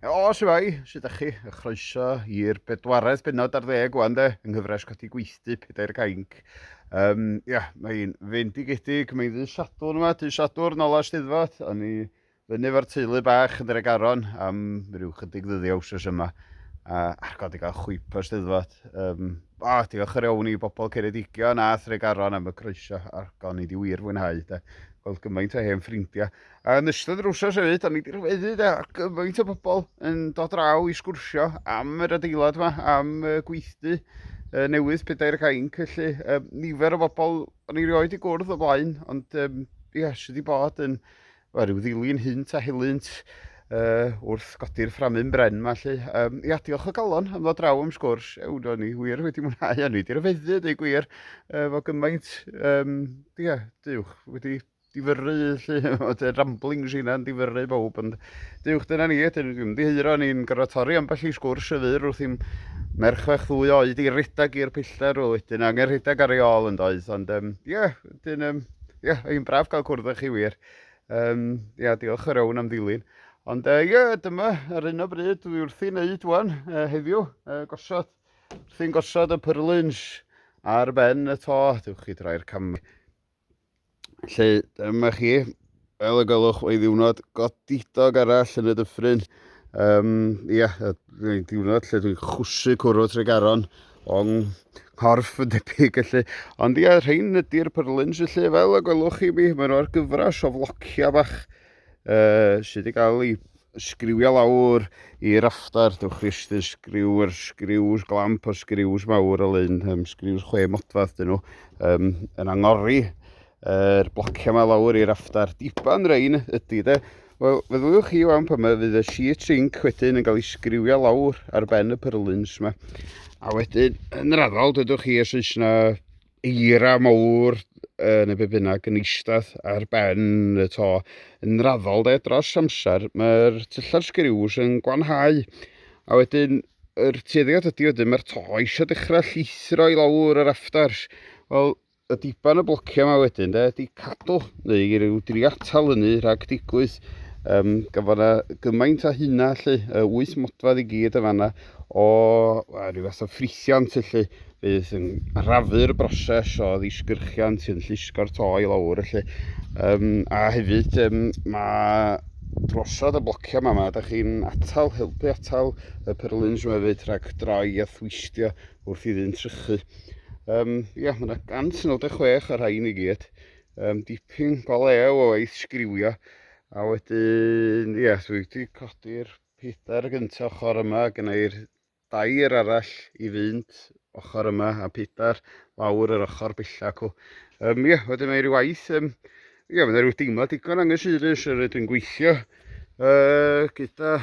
O, siwai, sydd ydych chi? Y chroeso i'r bedwaredd benod ar ddeg o'n de, yng nghyfres codi gweithdy pedair cainc. Um, ia, mae'n fendigedig, mae'n ddi Sadwrn yma, ddi Sadwrn, ola Steddfod, a ni fyny efo'r teulu bach yn yr egaron am rhyw chydig ddyddiau wsos yma. A ar god i gael chwip o Steddfod. Um, o, diolch yr iawn i bobl Ceredigion a Thregaron am y croeso ar gon i di wir fwynhau. De. Gweld gymaint o hen ffrindiau. Yn ystod yr wsos hefyd, da ni wedi rhyfeddu de, ar gyfaint o bobl yn dod draw i sgwrsio am yr adeilad yma, am y gweithdy uh, newydd pedair ac ainc, felly um, nifer o bobl o'n i rioed i gwrdd o blaen, ond um, ie, yes, sydd wedi bod yn well, rhyw ddilyn hynt a helynt uh, wrth godi'r fframyn bren yma, felly. Um, ia, diolch o galon am ddod draw am sgwrs, ewn o'n i wir wedi mwynhau, o'n i wedi rhyfeddu, dweud gwir, uh, fo gymaint, um, ia, diwch, wedi difyrru 'lly o dy ramblings i 'na'n difyrru bawb ond dywch dyna ni ydyn ni'n ymddiheuro ni'n gorfod torri ambell i sgwrs y fyr wrth i'n merch fach ddwy oed i redag i'r pellter o wedyn angen rhedeg ar ei ôl yn doedd ond um, ie yeah, wedyn um, ie yeah, ein braf cael cwrdd â chi wir um, ie yeah, diolch yr iawn am ddilyn ond ie uh, yeah, dyma ar un o bryd dwi wrth i wneud wan uh, heddiw uh, gosod wrth i'n gosod y pyrlins ar ben y to dywch chi droi'r camau Lle dyma chi, fel y gwelwch, mae ddiwrnod godidog arall yn y dyffryn. Um, ia, mae diwrnod lle dwi'n chwsu cwrw Tregaron o'n nghorff yn debyg felly. Ond ia, rhain ydy'r pyrlins felly, fel y gwelwch chi mi, mae'n o'r gyfres o flocia bach uh, sydd wedi cael ei sgriwio lawr i raftar, dewch chi ystyn sgriw, yr sgriws glamp o sgriws mawr o lun, um, sgriws chwe modfath dyn nhw, um, yn angori yr er blociau yma lawr i raftar diban rein ydy de. Wel, feddyliwch chi o'n pan mae fydd y sheet zinc wedyn yn cael ei sgriwio lawr ar ben y pyrlins yma. A wedyn, yn raddol, dydwch chi os oes yna eira mawr uh, neu be bynnag yn eistedd ar ben y to. Yn raddol de, dros amser, mae'r tyllar sgriws yn gwanhau. A wedyn, yr tueddiad ydy wedyn, mae'r to eisiau dechrau llithro i lawr yr afters. Wel, y diban y blociau yma wedyn, de, ydy cadw, neu i ryw dri atal hynny rhag digwydd. Um, Gafon na gymaint a hynna, lle, uh, wyth modfedd i gyd y fanna, o uh, rhyw fath o ffrithiant, lle, Bydd yn arafu'r broses o ddisgyrchiant yn llusgo'r to i lawr felly. Um, a hefyd um, mae drosod y blocio yma, mae ydych chi'n atal, helpu atal y pyrlins yma hefyd rhag droi a thwistio wrth i ddyn trychu. Um, ia, mae yna 196 ar rhain i gyd. Um, dipyn go lew o waith sgriwio. A wedyn, ia, dwi wedi codi'r pedair gyntaf ochr yma, gynnau'r dair arall i fynd ochr yma a pedair lawr yr ochr bella cw. Um, ie, wedyn mae rhywbeth, um, ie, mae rhyw deimlad digon anghysurus yr ydw i'n gweithio uh, gyda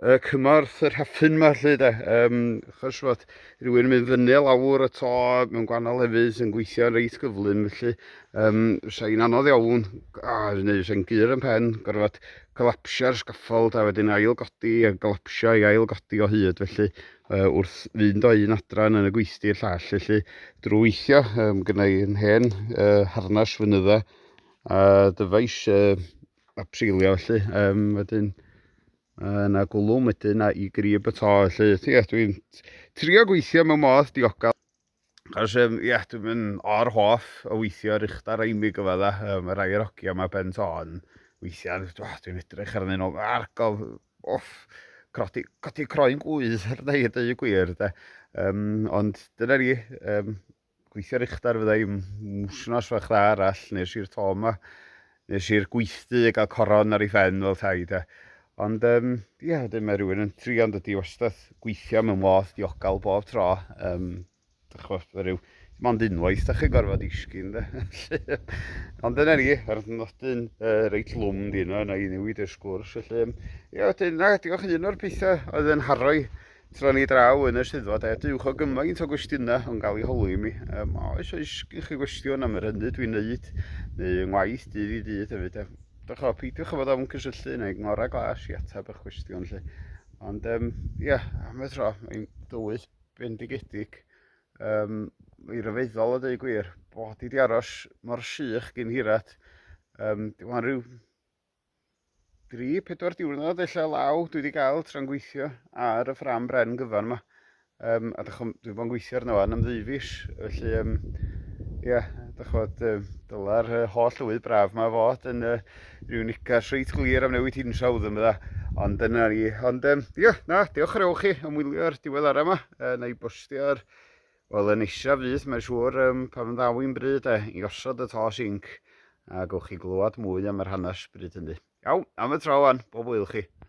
uh, cymorth yr hafyn yma lle da. Um, achos fod rhywun yn mynd fyny lawr y to mewn gwahanol lefydd sy'n gweithio'n reit gyflym felly Um, fysa hi'n anodd iawn, a neu fysa hi'n gyr yn pen, gorfod collapsio'r sgaffold a wedyn ail godi a collapsio i ail godi o hyd, felly uh, wrth fynd o un adran yn y gweithdy i'r llall, felly drwy weithio, um, gyda i'n hen uh, harnas fynydda a dyfais uh, a pseilio felly, um, wedyn uh, na gwlwm wedyn a i grib y to, felly, ie, dwi'n trio gweithio mewn modd diogel. Cos um, ia, dwi'n mynd o'r hoff o weithio ar uchdar a imig o fydda, um, yr air ogia yma ben ton. Weithiau, dwi'n edrych arnyn nhw, argof, off, crodi, codi croen gwydd, ar dweud dweud y gwir, de. Um, ond dyna ni, um, gweithio ar uchdar fydda i'n mwsnos fach dda arall, nes i'r to yma. Nes i'r gweithdy a gael coron ar ei phen fel 'thai de. Ond yym ia wedyn mae rhywun yn trio yn dydi wastad gweithio mewn modd diogal bob tro yym dych ch'mo' ma' ryw dim ond unwaith dych chi'n gorfod disgyn de felly ond dyna ni yr nodyn uh, reit lwm di yno yna i newid y sgwrs felly ia wedyn na diolch i un o'r pethau oedd yn haroi Tro ni draw yn y swyddfa de, dywch o gymaint o gwestiynau yn cael ei holi i mi. Um, oes oes gen chi gwestiwn am yr hynny dwi'n neud, neu yng ngwaith dydd i dydd hefyd de. Dych o, peidiwch o fod ofn cysylltu neu ngora glas i ateb eich gwestiwn lle. Ond um, ia, am y tro, mae'n dywydd bendigedig. Um, I ryfeddol o dweud gwir, bod i di aros mor sych gyn hirat. Um, Dwi'n rhyw Dri, pedwar diwrnod ella law dwi wedi cael tra'n gweithio ar y ffram bren gyfan yma. Um, a dych, dwi bod yn gweithio arno fan am ddeufis, felly um, ia, dych bod, um, dyla'r uh, holl lywydd braf yma fod yn uh, rhyw nicas reit glir am newid hinsawdd yn fydda. Ond dyna ni. Ond um, ia, na, diolch yn ewch chi am wylio'r diwedd ara yma. Uh, na i bostio'r Wel, yn isaf fyth, mae'n siŵr, um, pan ddaw i'n bryd e, i osod y tos inc, a gowch chi glywed mwy am yr hanes bryd hynny. Iawn, am y tro wan, bob wyl chi.